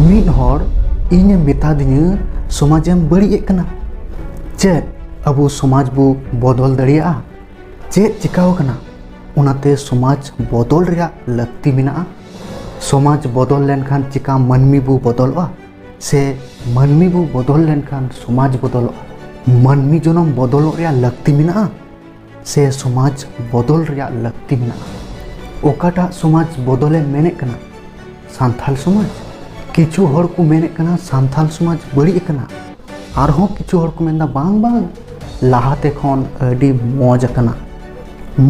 ᱢᱤᱫ ᱦᱚᱲ ᱤᱧᱮ ᱢᱮᱛᱟᱫᱤᱧᱟᱹ ᱥᱚᱢᱟᱡᱮᱢ ᱵᱟᱹᱲᱤᱡᱮᱫ ᱠᱟᱱᱟ ᱪᱮᱫ ᱟᱵᱚ ᱥᱚᱢᱟᱡᱽ ᱵᱚ ᱵᱚᱫᱚᱞ ᱫᱟᱲᱮᱭᱟᱜᱼᱟ ᱪᱮᱫ ᱪᱤᱠᱟᱣ ᱠᱟᱱᱟ ᱚᱱᱟᱛᱮ ᱥᱚᱢᱟᱡᱽ ᱵᱚᱫᱚᱞ ᱨᱮᱭᱟᱜ ᱞᱟᱹᱠᱛᱤ ᱢᱮᱱᱟᱜᱼᱟ ᱥᱚᱢᱟᱡᱽ ᱵᱚᱫᱚᱞ ᱞᱮᱱᱠᱷᱟᱱ ᱪᱤᱠᱟ ᱢᱟᱹᱱᱢᱤ ᱵᱚ ᱵᱚᱫᱚᱞᱚᱜᱼᱟ ᱥᱮ ᱢᱟᱹᱱᱢᱤ ᱵᱚ ᱵᱚᱫᱚᱞ ᱞᱮᱱᱠᱷᱟᱱ ᱥᱚᱢᱟᱡᱽ ᱵᱚᱫᱚᱞᱚᱜᱼᱟ ᱢᱟᱹᱱᱢᱤ ᱡᱚᱱᱚᱢ ᱵᱚᱫᱚᱞᱚᱜ ᱨᱮᱭᱟᱜ ᱞᱟᱹᱠᱛᱤ ᱢᱮᱱᱟᱜᱼᱟ ᱥᱮ ᱥᱚᱢᱟᱡᱽ ᱵᱚᱫᱚᱞ ᱨᱮᱭᱟᱜ ᱞᱟᱹᱠᱛᱤ ᱢᱮᱱᱟᱜᱼᱟ ᱚᱠᱟᱴᱟᱜ ᱥᱚᱢᱟᱡᱽ ᱵᱚᱫᱚᱞᱮ ᱢᱮᱱᱮᱫ ᱠᱟᱱᱟ ᱥᱟᱱᱛᱟᱲ ᱥᱚᱢᱟᱡᱽ ᱠᱤᱪᱷᱩ ᱦᱚᱲ ᱠᱚ ᱢᱮᱱᱮᱫ ᱠᱟᱱᱟ ᱥᱟᱱᱛᱟᱲ ᱥᱚᱢᱟᱡᱽ ᱵᱟᱹᱲᱤᱡ ᱟᱠᱟᱱᱟ ᱟᱨᱦᱚᱸ ᱠᱤᱪᱷᱩ ᱦᱚᱲ ᱠᱚ ᱢᱮᱱᱫᱟ ᱵᱟᱝ ᱵᱟᱝ ᱞᱟᱦᱟᱛᱮ ᱠᱷᱚᱱ ᱟᱹᱰᱤ ᱢᱚᱡᱽ ᱟᱠᱟᱱᱟ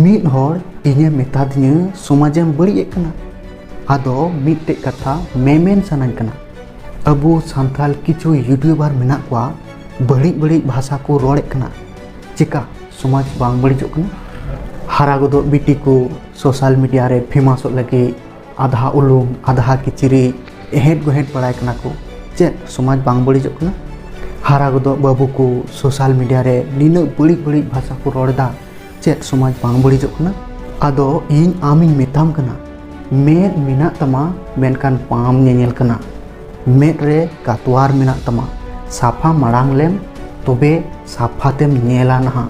ᱢᱤᱫ ᱦᱚᱲ ᱤᱧᱮ ᱢᱮᱛᱟᱫᱤᱧᱟᱹ ᱥᱚᱢᱟᱡᱮᱢ ᱵᱟᱹᱲᱤᱡ ᱮᱫ ᱠᱟᱱᱟ ᱟᱫᱚ ᱢᱤᱫᱴᱮᱡ ᱠᱟᱛᱷᱟ ᱢᱮᱢᱮᱱ ᱥᱟᱱᱟᱧ ᱠᱟᱱᱟ ᱟᱵᱚ ᱥᱟᱱᱛᱟᱲ ᱠᱤᱪᱷᱩ ᱤᱭᱩᱴᱤᱭᱩᱵᱟᱨ ᱢᱮᱱᱟᱜ ᱠᱚᱣᱟ ᱵᱟᱹᱲᱤᱡ ᱵᱟᱹᱲᱤᱡ ᱵᱷᱟᱥᱟ ᱠᱚ ᱨᱚᱲᱮᱫ ᱠᱟᱱᱟ ᱪᱮᱠᱟ ᱥᱚᱢᱟᱡᱽ ᱵᱟᱝ ᱵᱟᱹᱲᱤᱡᱚᱜ ᱠᱟᱱᱟ ᱦᱟᱨᱟ ᱜᱚᱫᱚᱜ ᱵᱤᱴᱤ ᱠᱚ ᱥᱳᱥᱟᱞ ᱢᱤᱰᱤᱭᱟ ᱨᱮ ᱯᱷᱮᱢᱟᱥᱚᱜ ᱞᱟᱹᱜᱤᱫ ᱟᱫᱷᱟ ᱩᱞᱩᱢ ᱟᱫᱷᱟ ᱠᱤᱪᱨᱤᱡ ᱮᱦᱮᱸᱰ ᱜᱚᱦᱮᱸᱰ ᱵᱟᱲᱟᱭ ᱠᱟᱱᱟ ᱠᱚ ᱪᱮᱫ ᱥᱚᱢᱟᱡᱽ ᱵᱟᱝ ᱵᱟᱹᱲᱤᱡᱚᱜ ᱠᱟᱱᱟ ᱦᱟᱨᱟ ᱜᱚᱫᱚᱜ ᱵᱟᱹᱵᱩ ᱠᱚ ᱥᱳᱥᱟᱞ ᱢᱤᱰᱤᱭᱟ ᱨᱮ ᱱᱤᱱᱟᱹᱜ ᱵᱟᱹᱲᱤᱡ ᱵᱟᱹᱲᱤᱡ ᱵᱷᱟᱥᱟ ᱠᱚ ᱨᱚᱲ ᱮᱫᱟ ᱪᱮᱫ ᱥᱚᱢᱟᱡᱽ ᱵᱟᱝ ᱵᱟᱹᱲᱤᱡᱚᱜ ᱠᱟᱱᱟ ᱟᱫᱚ ᱤᱧ ᱟᱢᱤᱧ ᱢᱮᱛᱟᱢ ᱠᱟᱱᱟ ᱢᱮᱫ ᱢᱮᱱᱟᱜ ᱛᱟᱢᱟ ᱢᱮᱱᱠᱷᱟᱱ ᱵᱟᱢ ᱧᱮᱧᱮᱞ ᱠᱟᱱᱟ ᱢᱮᱫ ᱨᱮ ᱠᱟᱛᱣᱟᱨ ᱢᱮᱱᱟᱜ ᱛᱟᱢᱟ ᱥᱟᱯᱷᱟ ᱢᱟᱲᱟᱝ ᱞᱮᱢ ᱛᱚᱵᱮ ᱥᱟᱯᱷᱟ ᱛᱮᱢ ᱧᱮᱞᱟ ᱱᱟᱦᱟᱜ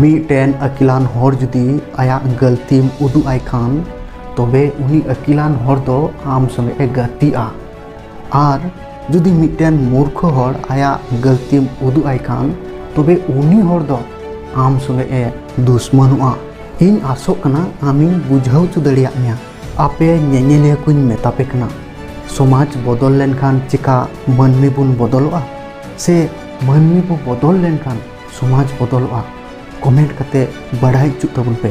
ᱢᱤᱫᱴᱮᱱ ᱟᱹᱠᱤᱞᱟᱱ ᱦᱚᱲ ᱡᱩᱫᱤ ᱟᱭᱟᱜ ᱜᱟᱹᱞᱛᱤᱢ ᱩᱫᱩᱜ ᱟᱭ ᱠᱷᱟᱱ ᱛᱚᱵᱮ ᱩᱱᱤ ᱟᱹᱠᱤᱞᱟᱱ ᱦᱚᱲ ᱫᱚ ᱟᱢ ᱥᱚᱸᱜᱮ ᱮ ᱜᱟᱛᱮᱜᱼᱟ ᱟᱨ ᱡᱩᱫᱤ ᱢᱤᱫᱴᱮᱱ ᱢᱩᱨᱠᱷᱚ ᱦᱚᱲ ᱟᱭᱟᱜ ᱜᱟᱹᱞᱛᱤᱢ ᱩᱫᱩᱜ ᱟᱭ ᱠᱷᱟᱱ ᱛᱚᱵᱮ ᱩᱱᱤ ᱦᱚᱲ ᱫᱚ ᱟᱢ ᱥᱚᱸᱜᱮ ᱮ ᱫᱩᱥᱢᱟᱱᱚᱜᱼᱟ ᱤᱧ ᱟᱥᱚᱜ ᱠᱟᱱᱟ ᱟᱢᱤᱧ ᱵᱩᱡᱷᱟᱹᱣ ᱦᱚᱪᱚ ᱫᱟᱲᱮᱭᱟᱜ ᱢᱮᱭᱟ ᱟᱯᱮ ᱧᱮᱧᱮᱞᱤᱭᱟᱹ ᱠᱚᱧ ᱢᱮᱛᱟ ᱯᱮ ᱠᱟᱱᱟ ᱥᱚᱢᱟᱡᱽ ᱵᱚᱫᱚᱞ ᱞᱮᱱᱠᱷᱟᱱ ᱪᱮᱠᱟ ᱢᱟᱹᱱᱢᱤ ᱵᱚᱱ ᱵᱚᱫᱚᱞᱚᱜᱼᱟ ᱥᱮ ᱢᱟᱹᱱᱢᱤ ᱵᱚ ᱵᱚᱫᱚᱞ ᱞᱮᱱᱠᱷᱟᱱ ᱥᱚᱢᱟᱡᱽ ᱵᱚᱫᱚᱞᱚᱜᱼᱟ ᱠᱚᱢᱮᱱᱴ ᱠᱟᱛᱮ ᱵᱟᱲᱟᱭ ᱦᱚᱪᱚ ᱛᱟᱵᱚᱱ ᱯᱮ